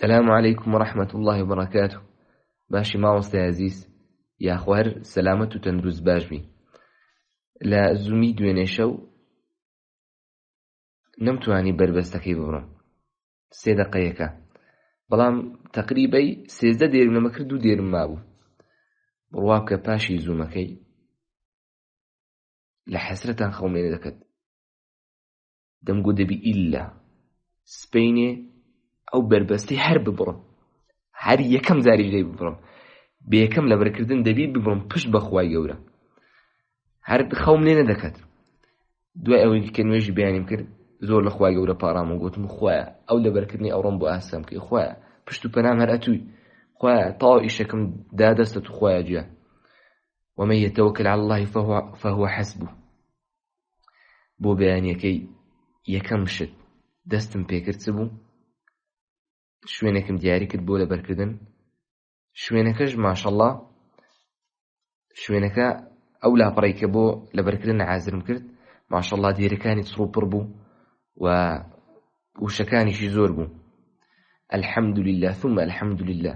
السلام عليكم ورحمة الله وبركاته باشی مامۆستا عزیز یاخوا هەر سەلامەت و تەندروست باش بی لە زومی دوێنێ شەو نەمتوانی بەربەستەکەی ببڕم سێ دەقەیەەکە بەڵام تقریبەی سێزدە دێرم لەمە کرد و دێرم مابوو بڕوا بکە پاشی زوومەکەی لە حەسرەتان خەومێنە دەکەت دەمگوت دەبی ئیلا سپینێ ئەو بەربەستی هەر ببڕم هەر یەکەم جاری لێ ببڕم بێکەم لە بەرکردن دەبی ببڕم پشت بەخوای گەورە هەر خەوم لێ نەدەکات دوای ئەوەی کە نوێژی بیانیم کرد زۆر لە خوای گەورە پاڕام و گوتم خوایە ئەو لە بەرکردنی ئەوڕۆم بۆ ئاسەم کەی خوایە پشت و پەنام هەر ئەتووی خوایە تاو ئیشەکەم دا دەستە تو خوایە جیان ومە یەتەوە کە لە الله فهو حەسبوو بۆ بەیانیەکەی یەکەم شت دەستم پێکرد بوو شوێنێکم دیاری کرد بۆ لەبەرکردن شوێنەکەش ماشەڵڵا شوێنەکە ئەو لاپەڕی کە بۆ لەبەرکردن عازرم کرد ماشەڵڵا دیرەکانی چڕوپڕ بوو و وشەکانیشی زۆر بوو الحمد لله ثم الحمد لله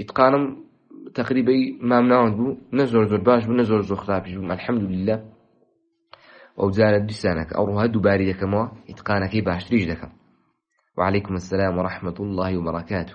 ئیتقانم تقریبی مام ناوەند بوو نە زۆر زۆر باش بوو نە زۆر زۆر خراپیش بوو الحمد لله ئەو جارە دیسانەکە ئەو ڕوها دووباری دەکەمەوە ئیتقانەکەی باشتریش دەکەم وعليكم السلام ورحمة الله وبركاته